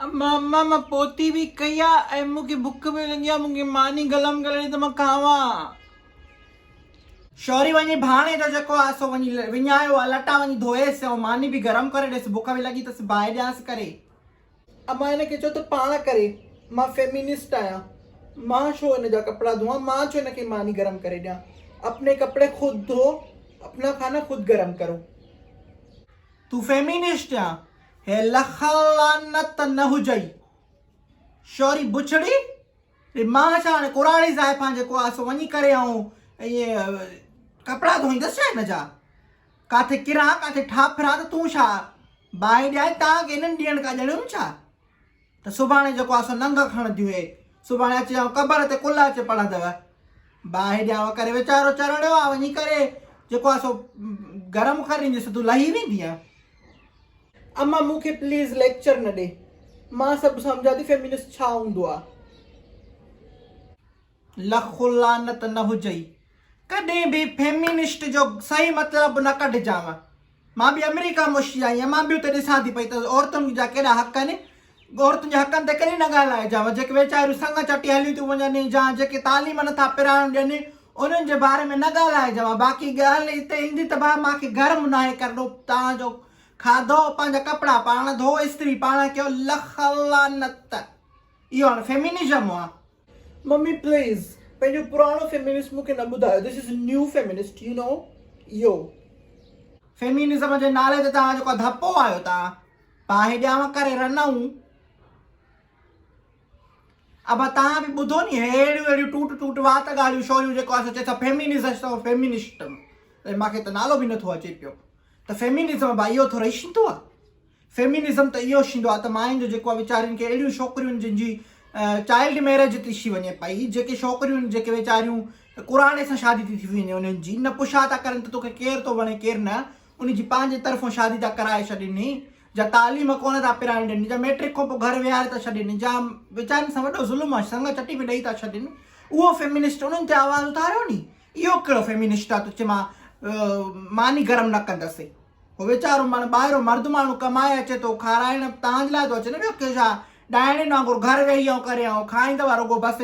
امان مان پوتي به ڪئي آ ۽ مون کي بک به لڳي آ مون کي ماني گلم ڪري ڏي ته مان کاوان. شوري وڃي ڀاڻي جو جيڪو آ سو وڃي وڃايو آ لٽا وڃي ڌوئيس ۽ ماني به گرم ڪري ڏيس بک به لڳي تس باهه ڏيانس ڪري. امان هن کي چئو ته پاڻ ڪري مان فيمينسٽ آهيان مان ڇو هن جا ڪپڙا ڌوئان مان ڇو هن کي ماني گرم ڪري ڏيان اپني ڪپڙي خود ڌو اپنا کانا خود گرم ڪرو. تون فيمينسٽ يا هي لخ لعنت نه هجئي شوري بڇڙي ڙي مان ڇا هاڻي ڪراڙي زائفان جيڪو آ سو وڃي ڪري آئون ائين ڪپڙا ڌوئيندس ڇا هن جا ڪاٿي ڪران ڪاٿي ٺاپران ته تون ڇا باهي ڏيان تان ڪي انهن ڏيڻ ڪا ڄڻيون ڇا ته سڀاڻي جيڪو آسو ننگ کڻ ديون اي سڀاڻي اچي آئون قبر تي ڪل اچي پڙهندو با هيڏيا وڪري ويچارو چرڻيو آ وڃي ڪري جيڪو آسو گرم کر ريندي سو تون لهي ويندي آ اما مون کي پليز ليڪچر نه ڏي مان سڀ سمجهان ٿي فيمنسٽ ڇا هوندو آ. لک لعنت نه هجئي ڪڏهن به فيمينسٽ جو صحيح مطلب نه ڪڍجانء مان به آمريڪا مان شي آئي آهيان مان به اتي ڏسان ٿي پئي ته عورتن جا ڪهڙا حق آهن عورتن جي حقن تي ڪڏهن نه ڳالهائجانء جيڪي ويچاريون سڱ چٽي هليون ٿيون وڃن جا جيڪي تعليم نه ٿا پراڻ ڏين انهن جي باري ۾ نه ڳالهائجانء باقي ڳالهه اتي ايندي ته ڀا مان کي گرم نه آهي ڪرڻو توهان جو کاڌو پنهنجا ڪپڙا پاڻ ڌوء استري پاڻ ڪيو لک لعنت اهو هاڻ فيمينزم آهي. ممي پليز پنهنجو پراڻو فيمينسٽ مون کي نه ٻڌايو this is new feminist you know you. Feminism جي نالي تي توهان جيڪو ڌپو آيو ٿا پاهي ڄام ڪري رنئون ابا توهان به ٻڌو ني هي اهڙيون اهڙيون ٽوٽ ٽوٽ وات ڳالهيون شوريون جيڪو آسو چئي ٿا فيمينزسٽ ۽ فيمينسٽ مون کي ته نالو به نه ٿو اچي پيو ته فيمينزم ابا اهو ٿوري شنتو آ. فيمينزم ته اهو شيندو آهي ته ماين جو جيڪو آهي ويچارين کي اهڙيون شوڪريون جن جي چائلڊ ميرج ٿي شي وڃي پئي جيڪي شوڪريون جيڪي ويچاريون قرآن سان شادي ٿي ٿي وڃي انهن جي نه پڇا ٿا ڪرن ته توکي ڪير ٿو وڻي ڪير نه ان جي پنهنجي طرفون شادي ٿا ڪرائي ڇڏين جا تعليم ڪونه ٿا پرائن ڏين جا ميٽرڪ کان پوء گهر ويهاري ٿا ڇڏين جا ويچارين سان وڏو ظلم آهي سنگ چٽي ۾ ڏئي ٿا ڇڏين اهو فيمينسٽ انهن تي آواز اٿاريو ني اهو ڪهڙو فيمينسٽ آ تو چي مان ماني گرم نه ڪندس هو ويچارو ماڻهو ٻاهريون مرد ماڻهو ڪمائي اچي ٿو کارائڻ تهان جي لاء ٿو اچي نه ٻيو ڪيو ڇا ڏائڻين وانگر گهر ويهي ائين ڪري ائين کائيندو رڳو بس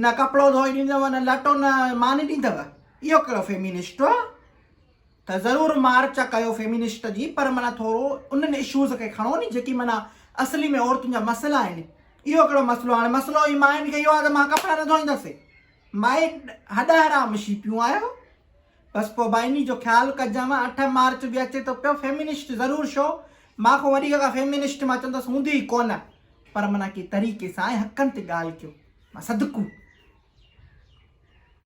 نه ڪپڙو ڌوئي ڏيندو نه لٽو نه ماني ڏيندو اهو ڪهڙو فيمينسٽ آ ته ضرور مارچ ڪيو فيمينسٽ جي پر مانا ٿورو انهن اشوز کي کڻو ني جيڪي مانا اصلي ۾ عورتن جا مسئلا آهن اهو ڪهڙو مسئلو هاڻي مسئلو هي ماين کي اهو آ ته مان ڪپڙا نه ڌوئيندس مائي هڏا حرام شي پيون آهيو. بس پوء بائني جو خيال ڪجانء اٺ مارچ به اچي ٿو پيو فيمنسٽ ضرور شو مان کان وڏي ڪا فيمنسٽ مان چوندس هوندي ئي ڪونه پر منا ڪي طريقي سان ۽ حقن تي ڳالهه ڪيو مان صدقو